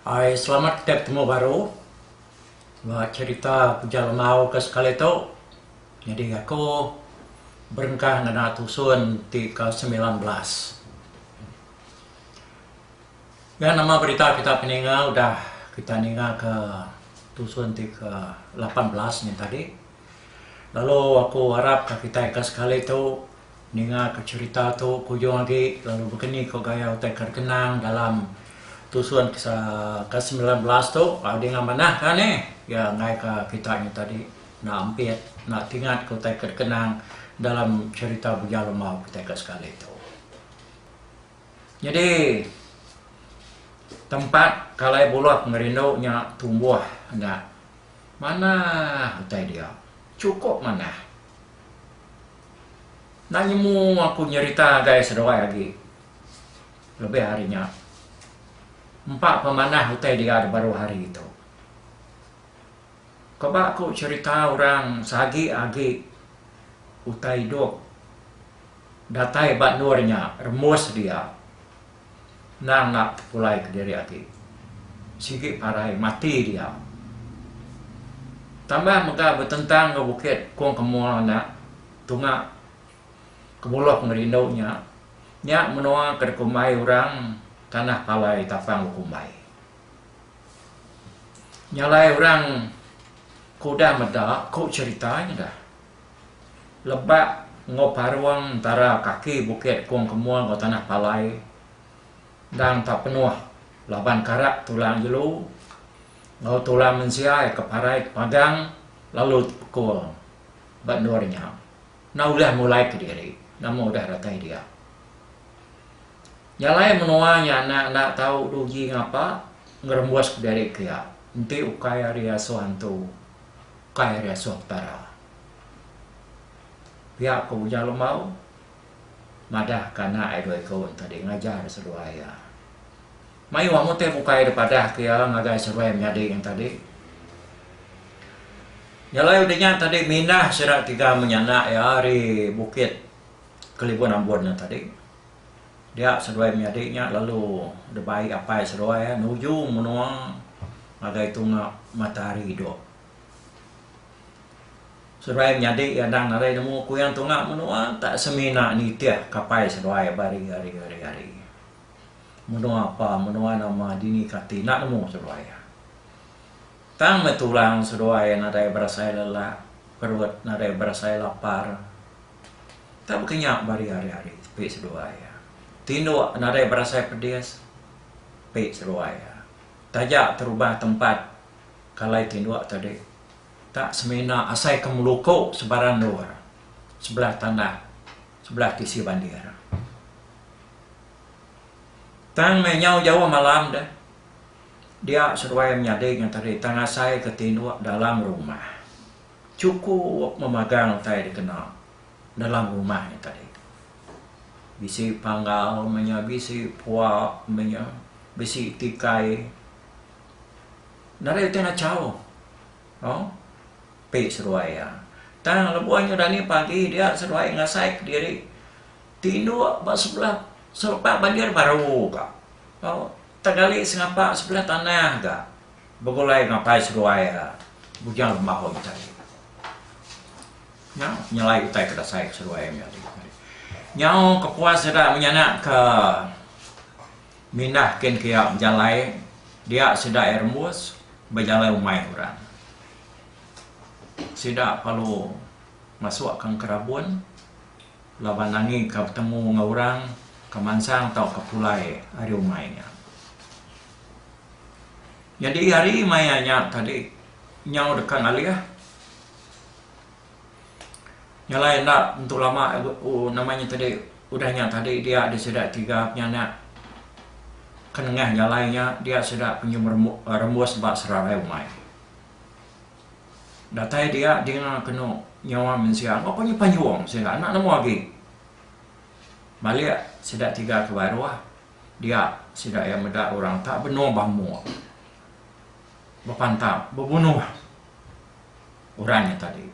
Hai selamat kita betemu baru ba cerita Pujau Lemau ke sekali tu nyadi aku berengkah ngena tusun ti ke semilan belas. Nya nama berita kita peninga udah kita ninga ke tusun ti ke lapan belas nya tadi lalu aku arap ka kitai ke sekali tu Ninga ka cherita tu ke ujung agi lalu begeni ko gaya utai ka dikenang dalam tusun ke ke semilan belas tu au dinga manah ka neh ya enggai ka kita nya tadi enda ampit enda tingat ka utai ka dikenang dalam cherita Bujang Lemau kitai ka sekali tu. Nyadi tempat ke alai buluh pengerindu nya tumbuh enda manah utai dia. Chukup manah. Enda nyemu aku nyerita ngagai seduai agi lebih ari nya. Empa pemanah utai dia da baruh hari tu. Ka ba aku cherita orang sagi agi utai idup datai ba endur nya rembus dia. Endang enda tepulai kediri agi. Sigi parai mati dia. Tambah mega betentang enggau bukit Kong Kemoa enda tunga kebuluh pengerindu nya. Nya menua ke dikumbai orang Tanah Palai Tapang Bekumbai. Nya alai orang ke udah meda ku cherita nya dah. Lebak enggau parung entara kaki bukit Kung Kemul enggau Tanah Palai endang tau penuh laban karak tulang jelu enggau tulang mensia iya ke parai tepagang lalu tepekul ba endur nya enda ulih mulai kediri nama udah datai dia. Nya alai menua nya enda tau uji ngapa ngerembus kediri ke iya enti ukai ari asuh antu. Ukai ari asoh Petara. Pia ko Ujang Lemau madah ka anak iya dua iko ento adi ngajar seduai iya. Mayuh amu te bukai ida padah ke iya ngagai seduai menyadi nya tadi. Nyelai udah nya tadi minah sida tiga menyanak iya ari Bukit Kelibun Ambun nya tadi. dia seduai menyadi nya lalu dibai apai seduai nuju menua ngagai tunga matahari duk. Seduai menyadi andang nadai nemu kuyang tunga menua tak semina nitih ke apai seduai ba hari hari hari hari. Menua apa menua nama dini kati enda nemu seduai iya. Tang meh tulang seduai nadai berasai lelak perut nadai berasai lapar. Tang baka nya bari ari-ari pei seduai iya. Tinduk nadai berasai pedis pei seduai iya. Taja terubah tempat ke alai tinduk tadi tak semina asai ke meluku sebarang endur sebelah tanah sebelah tisi bandir. Tang meh nyau jauh malam deh dia seduai menyadi ngan tadi tang asai ke tinduk dalam rumah. Chuku memagang utai dikena dalam rumah nya tadi. Bisi panggal meh nya, bisi pua meh nya, bisi tikai. Nadai utai ngachau. Au, pei seduai iya. Tang lebuh nya dani pagi dia seduai ngasai kediri tinduk ba sebelah selepa bandir baru ka. Au, tegali sengapa sebelah tanah ga. Begulai ngapai seruai ira bujang lembah oi tadi. Nyau nyelai utai ke dasai ke seruai mih ati. Nyau ke puas sida menyanak ke mindah kin ke iya bejalai dia sida iya rembus bejalai umai orang. Sida perlu masuk ke engka rabun laban angi ke betemu enggau orang ke mansang tauka pulai ari umai nya. Nyadi ari maya nya tadi nyau deka ngalih nyalai enda tentu lama nama nya tadi udah nya tadi dia deh sida tiga nya nya ke nengah jalai nya dia sida punya rembus ba sedarai umai. Datai dia dinga kenu nyawa mensia meh ko nya panjung sida enda nemu agi balik sida tiga ke baruh. Dia sida iya meda orang tak benung bamuk bepantap bebunuh orang nya tadi.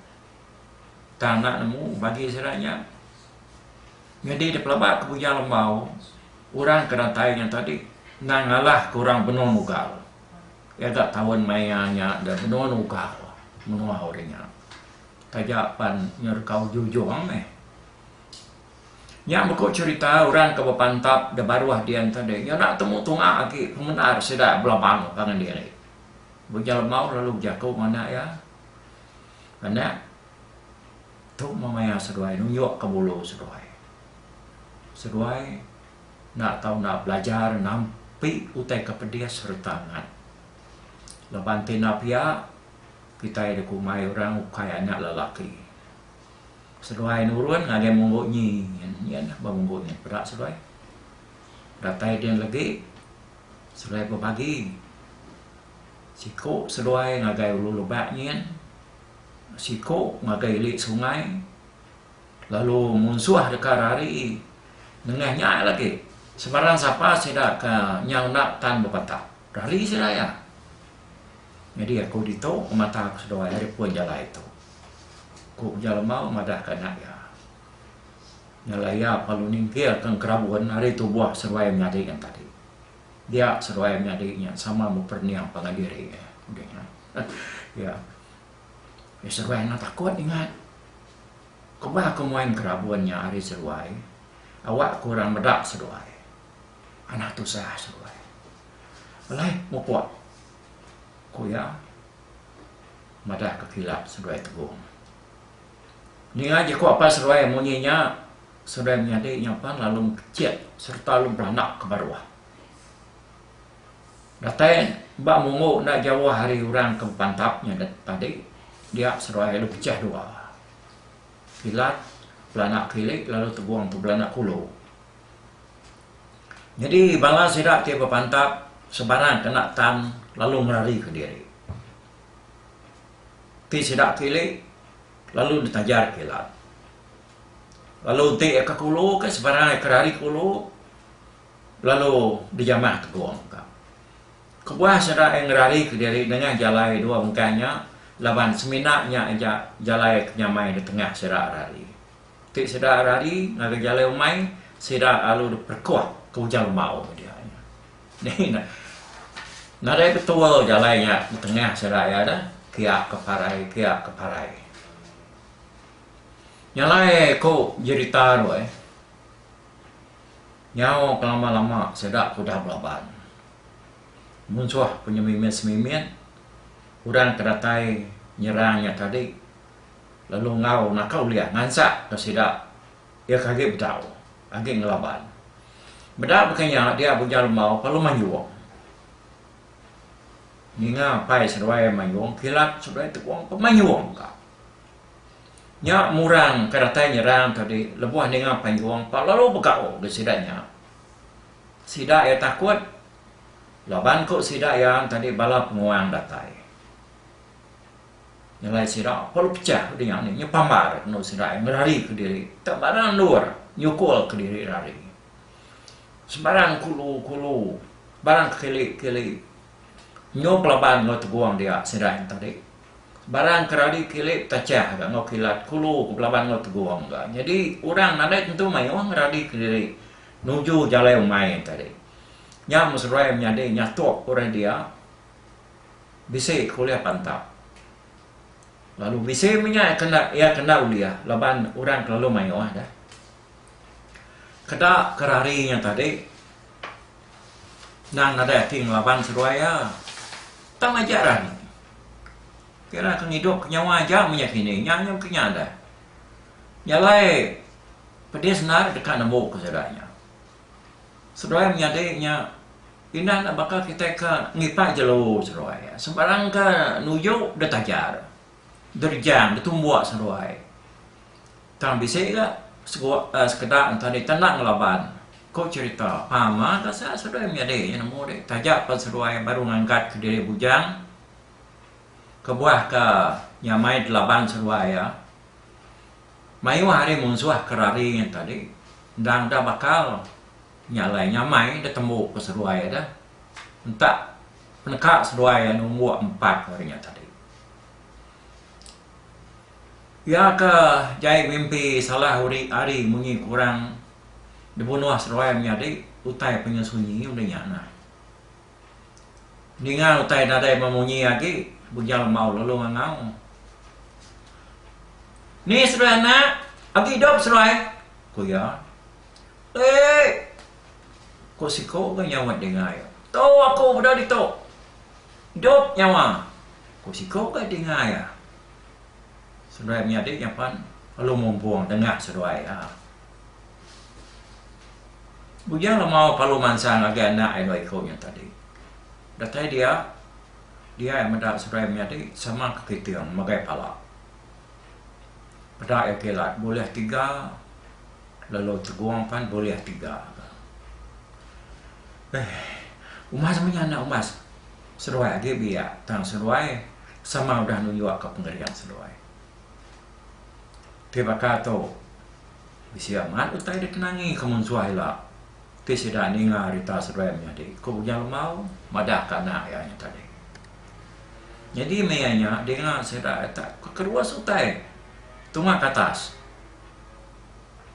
Tang enda nemu bagi sida nya nyadi dipelaba ke Bujang Lembau orang ke datai nya tadi enda ngalah ke orang benung ugal. Iya ga taun maya nya da benung ugal menua ori nya. Taja pan nyerka ujung-ujung meh. Nya beku cherita orang ke bepantap da baruh dian tadi iya enda temu tunga agi pemendar sida belabang pangan diri. Buk nya lemau lalu bejaku enggau anak iya, Anak, tu meh maya seduai nunjuk ke bulu seduai. Seduai enda tau enda belajar nampi utai ke pedis sereta ngat. Laban ti enda pia kitai dikumbai orang ukai anak lelaki. Seduai nurun ngagai munggu nyi nyin bah munggu nyin peda seduai. Datai din legi seduai bebagi siku seduai ngagai ulu lebak nyin siku ngagai ili sungai lalu munsuh deka rari nengah nya legi sebarang sapa sida ka nyau enda tan bepatah rari sida iya. Nyadi aku ditu pemata aku seduai ari pun jalai tu. Ku Ujal Lemau madahka anak iya. Nyalai iya lalu ningkirka enkerabun ari tubuh seruai menyadi nya tadi. Dia seruai menyadi nya sama beperening pangan diri iya. Udah nya, iya seruai enda takut ingat. Kemah aku muai enkerabun nya ari seruai, awak aku ra meda seruai. Anak tusah seruai. Alai mupuk. Ku iya madah ke kilap seduai tebung. Ninga jeku apai seduai munyi nya, seduai menyadi nya pan lalu mekecit sereta lalu beranak ke baruh. Datai ba mungu enda jauh ari orang ke bepantap nya tadi, dia seduai lalu pecah dua. Kilat belanak kili lalu tebung tu belanak kulu. Nyadi bala sida ti bepantap sebarang kena tan lalu ngerarika diri. Ti sida kili lalu ditajar kilat. Lalu ti ka kulu ke sebarang ke rari kulu lalu dijamah tegong ka. Kebuah sida ai ngerarika diri nengah jalai dua bengkah nya laban semina nya aja jalai ke nyamai da tengah sida rari. Ti sida ari hari ngagai jalai umai sida lalu diperekuh ke ujan lembau ke dia nya. Neh ina. Nadai betul jalai nya betengah sida iya dah kiak ke parai kiak ke parai. Nya alai ku jerita tu ai nyau ke lama-lama sida ke udah belaban munsuh punya mimit semimit orang ke datai nyerang nya tadi lalu enggau naka ulih ngansak ke sida iya ke agi bedau, agi ngelaban. Meda baka nya dia Bujang Lemau parlu mayung. Ninga pai seduai mayung kilat seduai tegong pun mayung ka. Nya murang ke datai nyerang tu di lebuh ninga payung pa lalu begau di sida nya. Sida iya takut laban ku sida iya enti bala penguang datai. Nyelai sida perlu pechah ke dinga ni nyepambar endur sida iya ngerari kediri tang barang endur nyukul kediri rari. Sebarang kulu-kulu, barang kekili-kili nyu pelaban enggau tegung dia sida iya tadi. Barang ke rari kili betachah ga enggau kilat kulu ke belaban enggau tegung ga. Nyadi orang nadai tentu mayuh ngerari kediri nuju jalai umai iya tadi. Nya meseruai menyadi nyatuk orang dia. bisi ke ulih pantap. Lalu bisi mih nya iya kenda ulih laban orang ke lalu mayuh deh. Keda ke rari nya tadi endang nadai ati ngelaban seduai iya. Tang aja rari. Kira ke ngidup ke nyawa aja mih nya kini. Nya nya mungkin nya deh. Nya alai pedis endar deka nembu ke sida nya. seduai menyadi nya indah enda baka kitai ke ngipak jelu seduai sembarang ke nuju deh tajar deh rejang deh tumbuk seduai tang bisi ga segua um sekeda enta ditan enda ngelaban ku cerita pama ga sek seduai menyadi nya nemu deh taja pen seduai baru ngangkat ke diri bujang kebuah ke nyamai delaban seduai iya Mayuh ari munsuh ke rari nya tadi endang deh bakal nyalai nyamai deh tembu ke seduai deh entak peneka seduai anu embuk empat ari nya tadi. Iya ke jai mimpi salah uri ari munyi ke orang dibunuh seduai menyadi utai penyu sunyi udah nya nah. Ninga utai nadai memunyi agi bujang lembau lalu ngangau. Ni seduai anak, agi idup seduai? ku iya. Lik! ku siku ke nyauit dinga iya. Tu aku bedau ditu. Idup nyawa, ku siku ke dinga iya. Seduai menyadi nya pan lalu mumpung dengah seduai iya. Bujang Lemau palu mansang ngagai anak iya dua iku nya tadi. Datai dia, dia iya meda seduai menyadi sama ke kiting megai pala. Peda iya kilat bulih tiga lalu tegong pan bulih tiga ka. Eih, umas meh nya anak umas seduai agi biak tang seduai sama udah nunjukka pengering seduai. Ti baka tu, bisi amat utai dikenangi ke mensuah ila ti sida ninga rita seduai menyadi, ku Bujang Lemau madahka anak iya nya tadi. Nyadi meh iya nya dinga sida ita ke keruas utai tunga ke atas.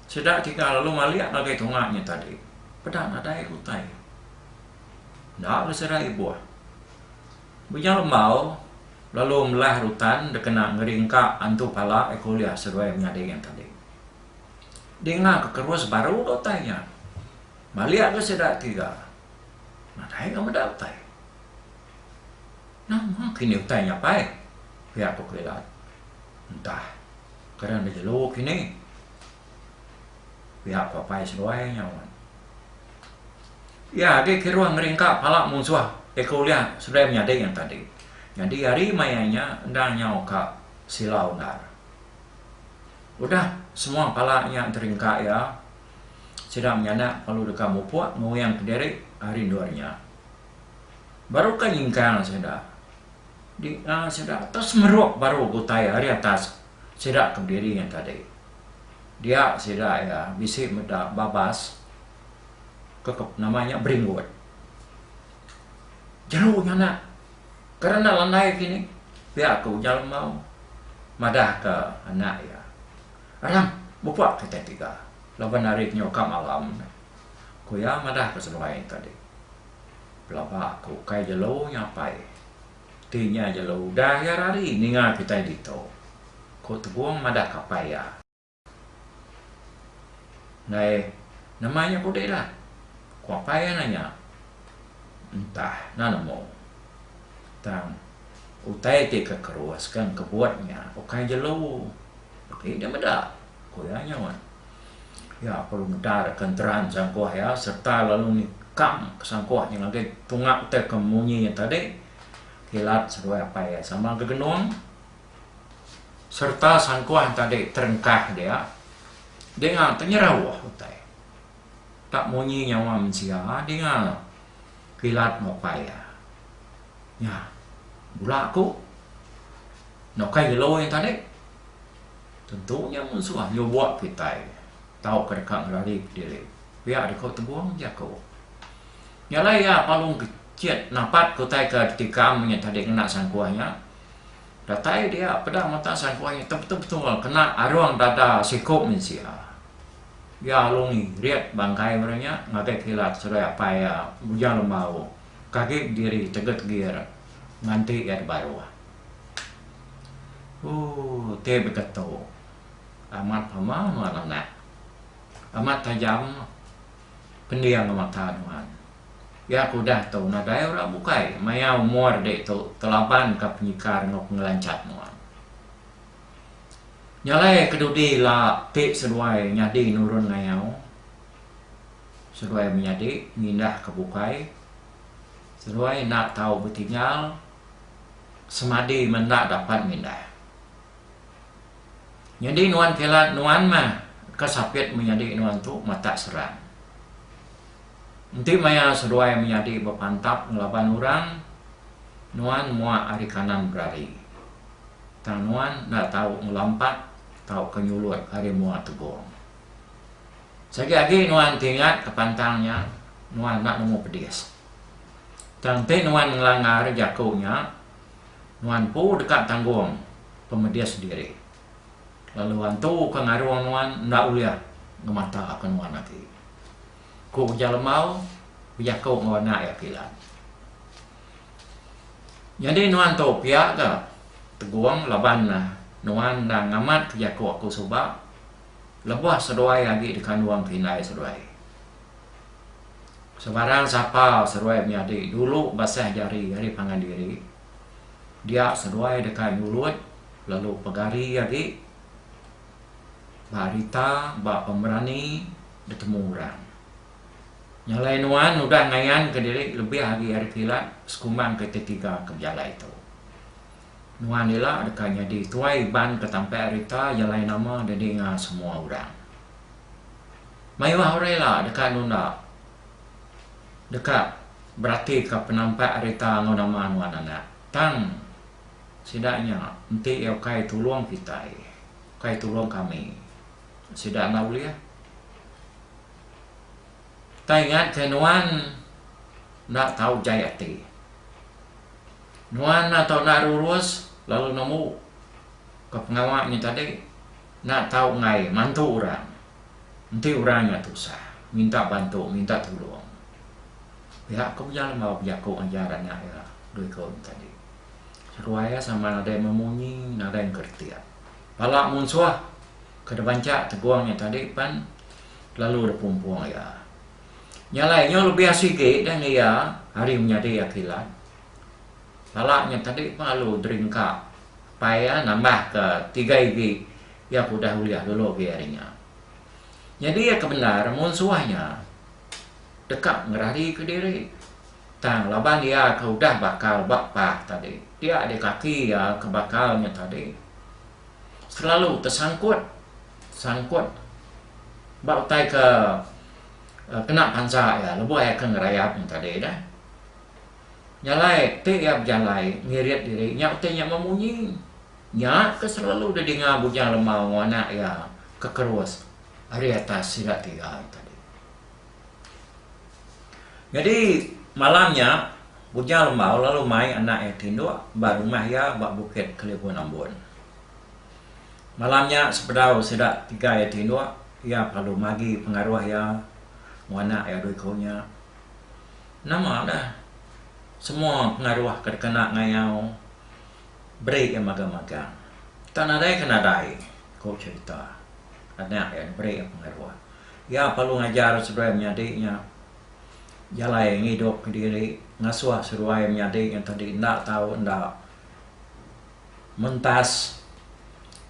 Sida tiga lalu malik ngagai tunga nya tadi peda nadai utai. Enda udah sida ibuh. Bujang Lembau lalu melah rutan dek kena ngeringka antu pala eko uliah seruai menyadi iya tadi. Dinga ke kerus baru ga utai nya. Balik ga sida tiga. Nadai ga meda utai. Nama kini utai nya pai? pia Puku Ilat. Entah. Kada nda jelu kini. Pia papai seduai nya wan. Iya agi kiruh ngeringka pala munsuh eko ulih seduai menyadi iya tadi. Nyadi ari maya nya enda nyau ka sila undar. Udah semua pala nya ngeringka iya sida menyanak lalu deka mupuk nguing kediri ari endur nya. Baru ka nyingkang sida. Di a sida terus merup baru ke utai ari atas sida ke bediri ngan tadi. Dia sida iya bisi meda babas ke ke nama nya beringut. Jelu nganak ke randal andai kini, pia ke Ujal Lemau madahka anak iya. Arang bebup kitai tiga laban ari ke nyauka malam nya, ku iya madahka seduai tadi. Pelaba ke ukai jelu nya apai. Ti nya jelu udah iya rari ninga kitai ditu, ku Tebong madah kapai iya. Enggai nema nya pudi lah? ku apai iya nanya. Entah enda nemu. Tang utai ti ke keruska engkebut nya ukai jelu. Agi dia meda, ku iya nyaut. Iya perlu ngedarka enteran sangkuh iya sereta lalu nikam sangkuh nya ngagai tunga utai ke munyi nya tadi kilat seduai apai iya sama gegenung sereta sangkuh nya tadi terengkah dia dinga tu nyerauh utai tak munyi nyawa mensia dinga kilat enggau apai iya. Nya bula aku no kai jelu nya tadi Tentu nya munsuh nyubok kitai tauka deka ngerari kediri pia deka tebung jaku. Nya alai iya palung kecit napat ke utai ke ditikam inya tadi ngena sangkuh nya. Datai dia peda mata sangkuh nya tu betul-betul kena arung dada siku mensia. Iya alu ngirit bangkai meri nya ngagai kilat seruai apai iya Bujang Lembau ke agi bediri teget gear nganti iya dibaruh. Ooh te betetu. Amat pama nuan anak. Amat tajam pending ke mata nuan. Iya ke udah tu nadai ora bukai maya umur ditu telaban ka penyikar enggau pengelanchap nuan. Nyalai ke dudi ila ti seduai nyadi nurun ngayau, seduai menyadi ngindah ke bukai, seduai enda tau betingal. semadi menda dapat mindah. Nyadi nuan kilat nuan mah ke sapit menyadi nuan tu matak serang. Enti maya seduai menyadi bepantap ngelaban orang, nuan mua ari kanan berari. Tang nuan enda tau ngelampat tauka nyulut ari mua tegong. Sagi agi nuan ti ingat ke pantang nya, nuan enda nemu pedis. Tang enti nuan ngelanggar jaku nya, nuan empu deka tanggung pemedis diri, lalu antu ke ngarung nuan enda ulih ngemataka nuan agi, ku Ujar Lemau bejaku enggau anak iya kilan. Nyadi nuan tu pia ga tegong laban nuan enda ngamatka jaku aku suba lebuh seduai agi dikandungka indai seduai. Sebarang sapa seruai menyadi dulu basah jari ari pangan diri, dia seruai deka nyulut lalu pegari agi ba rita ba pemerani ditemu orang. Nyalai nuan udah ngayanka diri lebih agi ari kila sekumang ke ti tiga ke pejalai tu. Nuan ila deka nyadi tuai iban ke tampai ari ta je lain nama da dinga semua orang. Mayuh orang ila deka nunda deka beratika penampak ari ta enggau nama nuan anak. Tang sida nya enti iya ukai tulung kitai, ukai tulung kami, sida enda ulih. Kitai ingatka nuan enda tau jai ati. Nuan atau enda rurus lalu nemu ke pengawa nya tadi enda tau enggai mantu orang enti orang nya tusah minta bantu minta tulung pihak ke bejal enggau bejaku ngajar anak iya dua iku nya tadi seduai iya sama nadai memunyi nadai ngeretik pala munsuh ke dibanca tegong nya tadi pen lalu dipumpung iya. Nya alai nyau lebih asi ge dah ngga iya hari menyadi iya kilat. Lala nya tadi pun lalu diri engka pai iya nambah ke tiga igi iya ke udah ulih dulu agi hari nya. Nyadi iya ke bendar mun suah nya deka ngerari ke diri tang laban iya ke udah bakal ba pah tadi dia di kaki iya ke bakal nya tadi. selalu tesangkut sangkut ba utai ke kena bansa iya lebuh iya ke ngerayat mung tadi dah. Jalai ti iya bejalai ngirit diri nya utai nya memunyi. Nya ke selalu didinga Bujang Lemau enggau anak iya kekerus ari atas sida tiga tadi. Nyadi malam nya, Bujang Lembau lalu mai anak iya ti indu ba rumah iya ba Bukit Kelibu Nambun. Malam nya sepedau sida tiga iya ti indu iya lalu magi pengaruh iya enggau anak iya dua iku nya. Nama dah semua pengaruh ke dikena ngayau beri iya magang-magang. Tang nadai ke nadai ku cherita anak iya beri iya pengaruh. Iya perlu ngajar seduai menyadi nya jalai ngidup ke diri, ngasuh seduai menyadi nya tadi enda tau enda mentas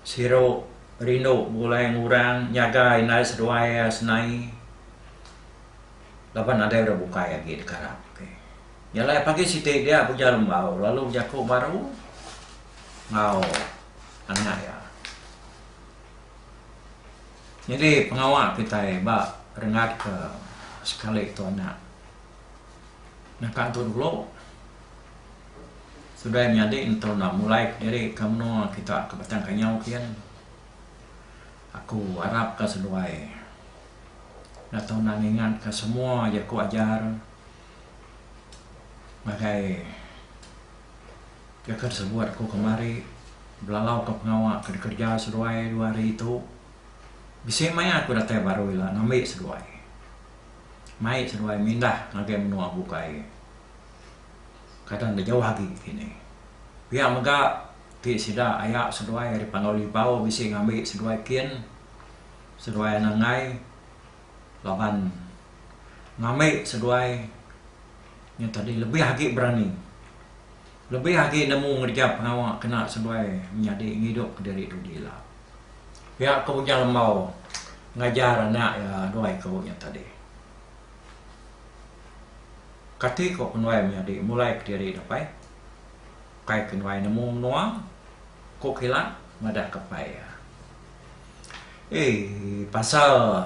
siru rindu begulai ngan orang, nyaga indai seduai iya senai laban nadai orang bukai agi deka arap ke. Jalai pagi siti dia berujar lembau lalu bejaku baru enggau anak iya. Nyadi pengawa kitai ba rengatka sekali tu anak naka entu dulu sudah nyadi entu enda mulai kediri ka menua kita ka Batang Kanyau kian aku arap ka seduai enda tau enda ngingat ka semua jaku ajar ngagai Jaka disebuat ku kemari, belalauka pengawa ke dikereja seduai dua hari tu, bisi maya ku datai baru ila ngambi seduai. Mai seduai mindah ngagai menua bukai kada enda jauh agi kini. Pia mega ti sida aya seduai ari Panggau Libau bisi ngambi seduai kin, seduai anak enggai laban ngambi seduai. Nya tadi lebih agi berani, lebih agi nemu ngereja pengawa kena seduai menyadi ngidupka diri dulu ila. Pia ko Bujang Lembau ngajar anak iya dua iku nya tadi. Kati ko kenuai menyadi mulaika diri da pai? Ukai kenuai nemu menua ko kilat madahka pai iya. Ii pasal.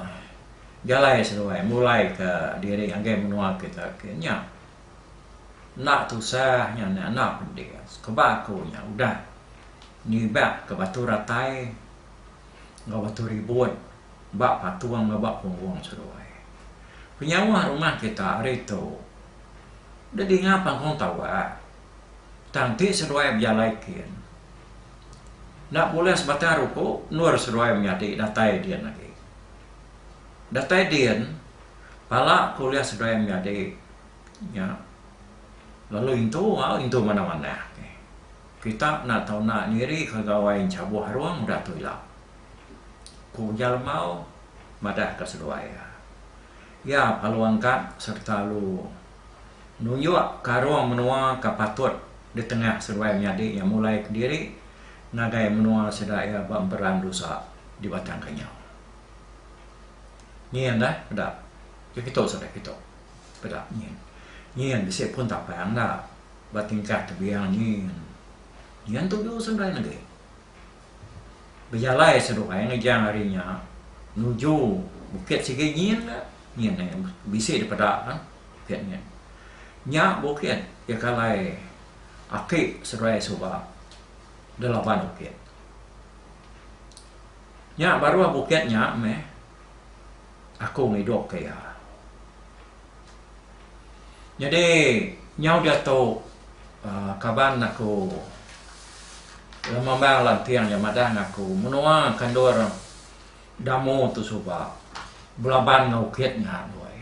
Jalai seduai mulaika diri ngagai menua kita ke nya enda tusah nya enda enda pedih sekeba aku nya udah nibak ke batu ratai enggau batu ribut ba patung enggau ba punggung seduai. Penyawa rumah kita hari tu deh dinga pangkung tawa tang ti seduai bejalai kin enda buleh sebatang ruku endur seduai menyadi datai din agi. Datai din, pala ku ulih seduai menyadi nya lalu intu au intu manah manah ti. Kita enda tau enda nyiri ka gawai enchabuh arung udah tu ila. Ku Uja Lemau madah ka seduai iya. Iya palu angkat sereta alu. nunjuk karung menua ke patut ditengah seduai menyadi iya mulai kediri ngagai menua sida iya ba emperan dusa di Batang Kanyang. Nyin dah peda ke kitu saja kitu peda nyin. Nyin bisi pun tapang da ba tingkah tebiang nyin. Nyin tuju seduai nengeri. Bejalai seduai ngejang hari nya nuju bukit sigi nyin ka nyin aja bisi dep peda ka bukit nyin. Nya bukit ke kalai aki seduai suba deh laban bukit. Nya baruh bukit nya meh. Aku ngidupka iya. Nyadi, nyau diatu uhh kaban aku Lemambang Lanting iya madah ngaku, menua kandor Damu tu suba belaban enggau bukit nya doi.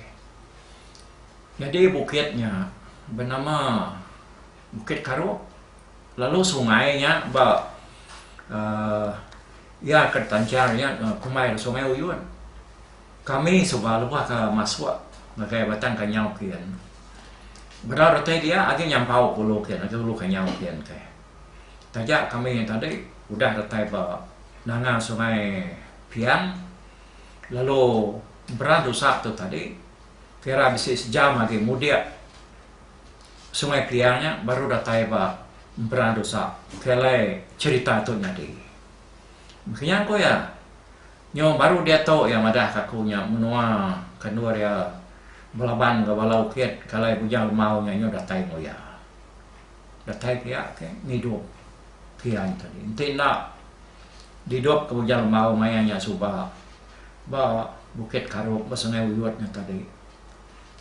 Nyadi bukit nya benama. Bukit Karo, lalu sungai nya ba uhh iya ka ditanchar nya kumbai ari Sungai Uyun. Kami suba lebuh ka masuk ngagai Batang Kanyau kian. Bedau reti dia agi nyampau ke ulu kian, ulu Kanyau kian kai. Taja kami tadi udah datai ba nanga Sungai Piang lalu beran rusa tu tadi kira bisi sejam agi mudik. Sungai Pia nya baru datai ba Emperan Dusa ti alai cherita tu nyadi. Kenyang ku iya, nyau baru diatu iya madah ka aku nya menua ke endur iya belaban enggau bala bukit ke alai Bujang Lemau nya nyau datai enggau iya. Datai pia ke ngidup ke iya nya tadi. Enti enda didup ke Bujang Lemau maya iya suba ba Bukit Karuk ba Sungai Uyut nya tadi.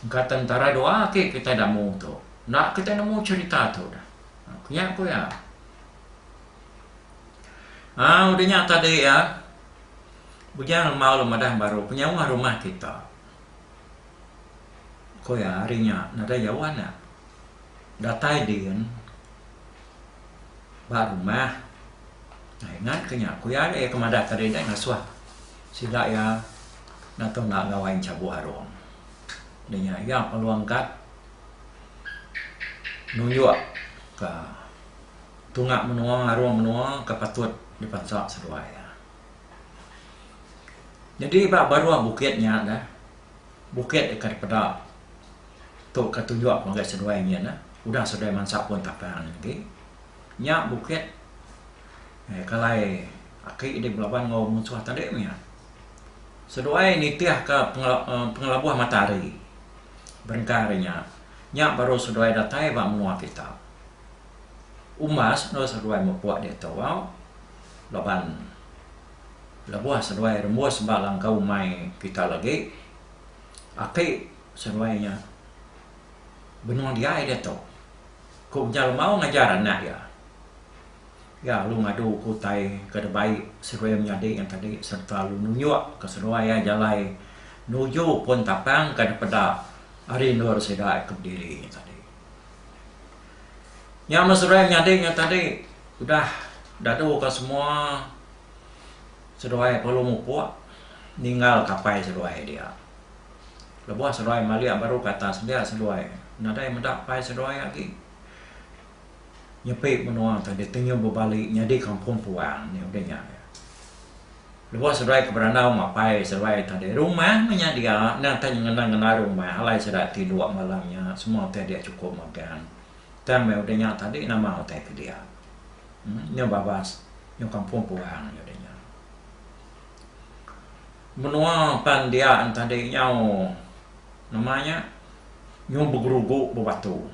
Engka tentara dua agi kitai damu tu. Enda kitai nemu cherita tu dah. Ku nya ku iya. Au udah nya tadi iya Bujang Lemau lu madah baru penyauh rumah kita. Ku iya hari nya nadai jauh anak. Datai din ba rumah. Ingat ke nya ku iya ari ke madah tadi deh ngasuh. Sida iya naka enda enggau ai enchabuh arung. Denya iya peluang kad nunjuk ka tunga menua arung menua ka patut dipansa seduai iya. Nyadi ba baruh bukit nya neh bukit deka dipeda tu ka tunjuk ngagai seduai nyin neh udah seduai mansa pun tapang agi nya bukit. Meh ka alai aki deh belaban enggau munsuh tadi meh iya. Seduai nitih ka pengelabuh matahari berengkah ari nya, nya baru seduai datai ba menua kita. Umbas enda seduai mepuk diatu bau laban lebuh seduai rembus ba langkau umai kita lagi aki seduai nya benung diai diatu. Ku Ujang Lemau ngajar anak iya. Iya lalu ngadu ke utai ke da bai seduai menyadi iya tadi sereta lalu nunjuk ke seduai iya jalai nuju pun tapang ke dipeda ari endur sida ke bediri nya tadi. Nya meh seduai menyadi nya tadi udah dadu ke semua seduai perlu mupuk ninggal kapai seduai dia. Lebuh seduai malik baru ke atas dia seduai nadai meda pai seduai agi. nyepi menua tu ditengyu bebali nyadi kampung puang nya udah nya dia. Lebuh seduai ke berandau mapai seduai tadi rumah meh nya dia endang tah nyengena ngena rumah alai sida ti dua malam nya semua utai dia chukup megang tang meh udah nya tadi nama utai ke dia em nya babas nya kampung puang nya udah nya. Menua pan dia tadi nyau nama nya nyau begerugu bebatu.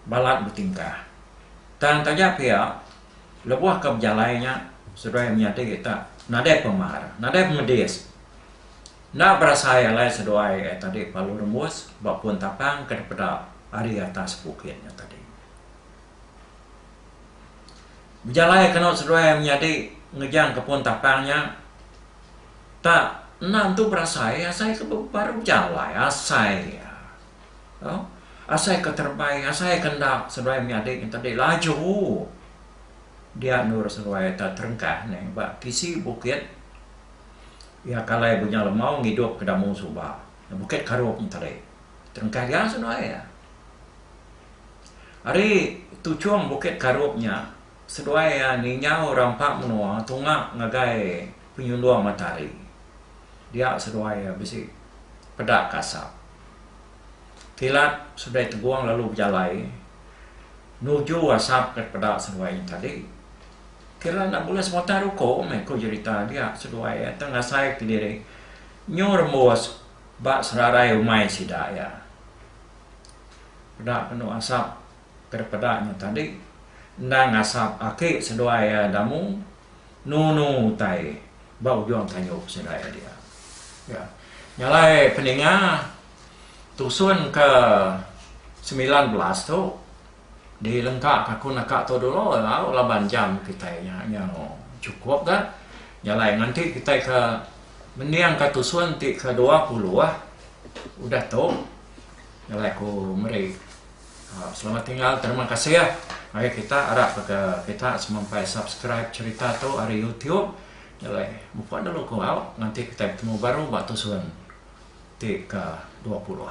balat betingkah. Tang taja pia, lebuh ke bejalai nya, seduai menyadi kita nadai pemar, nadai pemedis. Enda berasai alai seduai ai tadi palu rembus ba pun tapang ke dipeda ari atas bukit nya tadi. Bejalai ke anu seduai menyadi ngejang ke pun tapang nya tak enda tentu berasai, asai ke baru bejalai asai iya. Tau? Asai ka terebai, asai ka enda seruai mih adik ngan tadi laju dia endur seruai ita terengkah nih ba tisi bukit iya kalai bunyang lemau ngidup ke damu suba bukit karup nya tadi. Terengkah iya seduai iya. Ari tuchung bukit karup nya seduai iya ninjau rampa menua tunga ngagai penyundung matahari. Dia seduai iya bisi peda ka asap. Kilat sebelah Tegong lalu bejalai nuju asap ke peda seduai nya tadi. Kira enda bulih semutan ruko meh ku jerita dia seduai iya tu ngasai ke diri nyu rembus ba serarai umai sida iya. Peda penu asap ke dipeda nya tadi endang asap aki seduai iya damu. Nono utai ba ujung tayup sida iya dia. Ya. Nya alai peninga tusun ke semilan belas tu dilengka ka aku naka tu dulu lalu laban jam kitai nya nya chukup ga. Nya alai nganti kitai ke mending ka tusun ti ke dua puluh udah tu nya alai aku meri. Selamat tinggal terima kasih mari kita arap ke kita semampai subscribe cerita tu ari YouTube jalai mupuk dulu ku au nganti kitai betemu baru ba tusun ti ke dua puluh.